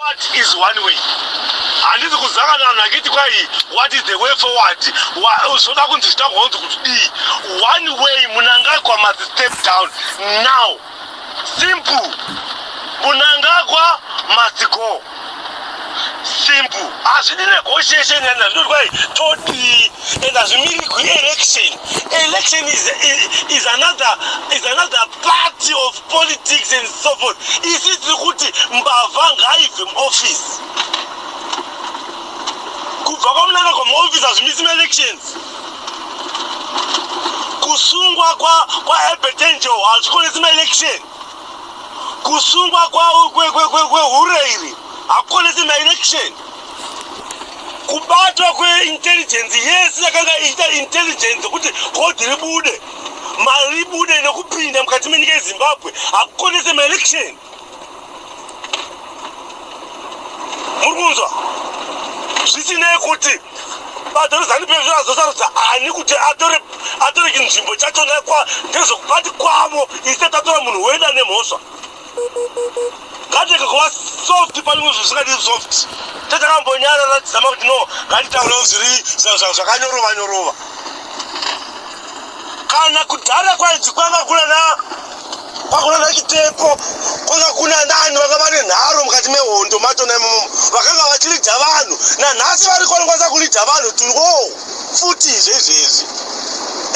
What is one way? Handisi kuzanga vanhu vachiti kwai what is the way forward? Zvoda kunzi zvitagwa kunzi kuti dii. One way Munangagwa must step down now. Simple. Munangagwa must go. Simple. Hazvidi negotiation and hazvidi kwai todii and hazvimiri kuelection. Election is, is, is another is another party of politics and so forth isi tiri kuti mbavha ngaibve muoffice kubva kwamunanga kwamaoffice hazvimisi maelections kusungwa kwaebetenjel hazvikonesi maelection kusungwa kwehure iri hakukonesi maelection kubatwa kweintelligence yese yakanga iita intelligence kuti godhi ribude Mari ibude nekupinda mukati menyika yeZimbabwe hakukonese maelection. Muri kunzwa? Zvisinei kuti bato reZanu PF razosarudza ani kuti atore atore chinzvimbo chachona kwa ndezvekubati kwavo isati atora munhu weda nemhosva. kateka kuva soft panyumwe zvinhu zvisingadi soft tatakambonyara ratizama kuti no ngatitaurewo zviri zvakanyorova nyorova kana kudhara kwaidzi kwanga kuna na kwakuna na chitepo kwanga kuna nani vanga vane nharo mukati mehondo macho naimomo vakanga vachilidza vanhu nanhasi vari kwanokwanisa kulidza vanhu turiwo futi izve izvezvi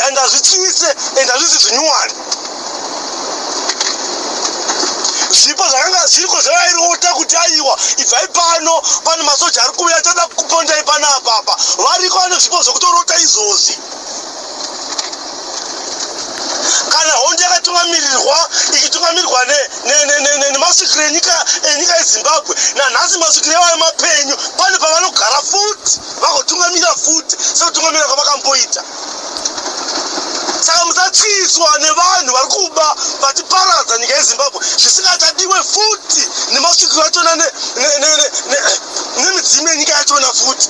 and hazvitsvise and hazvisi zvinyuwani zvipo zvakanga zviriko zvavairota kuti aiwa ibvai pano pane masoja ari kuuya tada kupondai pana apapa variko vane zvipo zvokutorota izvozvi kana hondo yakatungamirirwa ichitungamirirwa nemasvikiro enyika enyika yezimbabwe nanhasi masvikiro evayo mapenyu pane pavanogara futi vagotungamira futi sekutungamira kwavakamboita saka musatyiswa nevanhu vari kuba vatiparadza nyika yezimbabwe zvisingachadiwe futi nemasvikiro achona nemidzimu yenyika yachona futi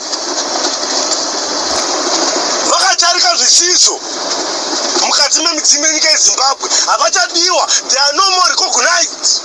vakatarika zvisizvo mukati memidzimu yenyika yezimbabwe havachadiwa they are no more recognized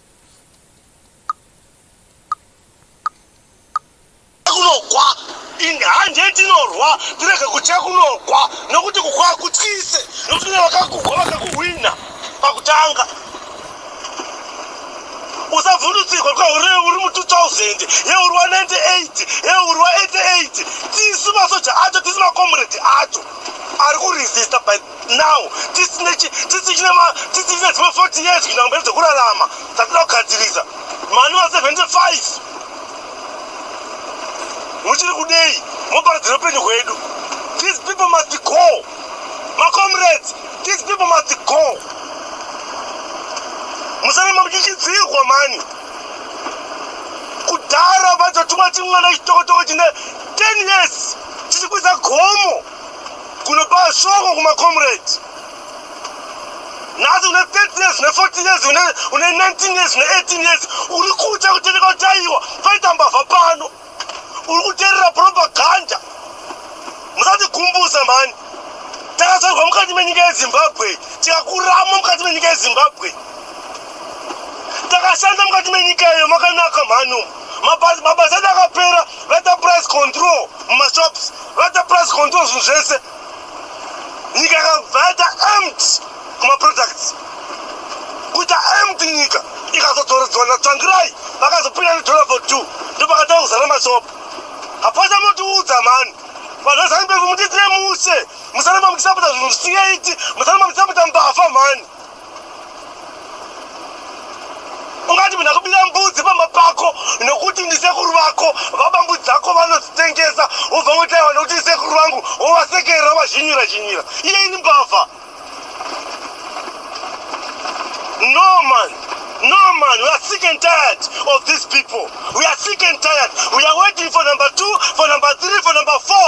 kunogwa ende hanje tinorwa tirege kutya kunogwa nokuti kukwa kutyise nokuti ne vakakugwa vakakuhwina pakutanga usavhundutsirwa kwauri uri mu 2000 ye uri wa 98 ye uri wa 88 tisu masoja acho tisu makomuredi acho ari kuresista by now tisine chi- tisi chine ma- tisi chine dzimwe 40 years kuenda kumberi dzekurarama dzatinoda kugadzirisa mani va 75 muchiri kudei moparidzira upenyu hwedu these people must go macomrades these people must go musarema muchichidzirwa mani kudhara vachatumwa chimwana chitokotoko chine 10 years chichikwidza gomo Kunopa shoko kuma comrades. Nhasi une 30 years, une 40 years, une, une 19 years, une 18 years. Uri kutya kutendeka kuti aiwa paita mbavha pano. Uri kuterera propaganda. Musatigumbuse mhani. Takazvarwa mukati menyika yeZimbabwe, tikakurama mukati menyika yeZimbabwe. Takashanda mukati menyika iyo makanaka mhani umu. Mabasa edu akapera, vaita price control mumashops. vata price control zvinhu zvese nyika yakabva yaita amt kumaproducts kuita amt nyika ikazodzoredzwa natsvangirai vakazopinda nedollar for two ndopakatanga kuzara masopo hapana motiudza mhani vanhu vezanibeko mutiitire muse musana mamukisapota zvinhu zvisingaiti musana mamukisapota mbafa mhani ungati munhu akubira mbudzi pamba pako nokuti ndisekuru vako vabambu dzako vanodzitengesa wobva ngotaiwa nokuti isekuru vangu wovasekerera wovazhinyira zhinyira iye ini mbavha no man no man we are sick and tired of these people we are sick and tired we are waiting for number two for number three for number four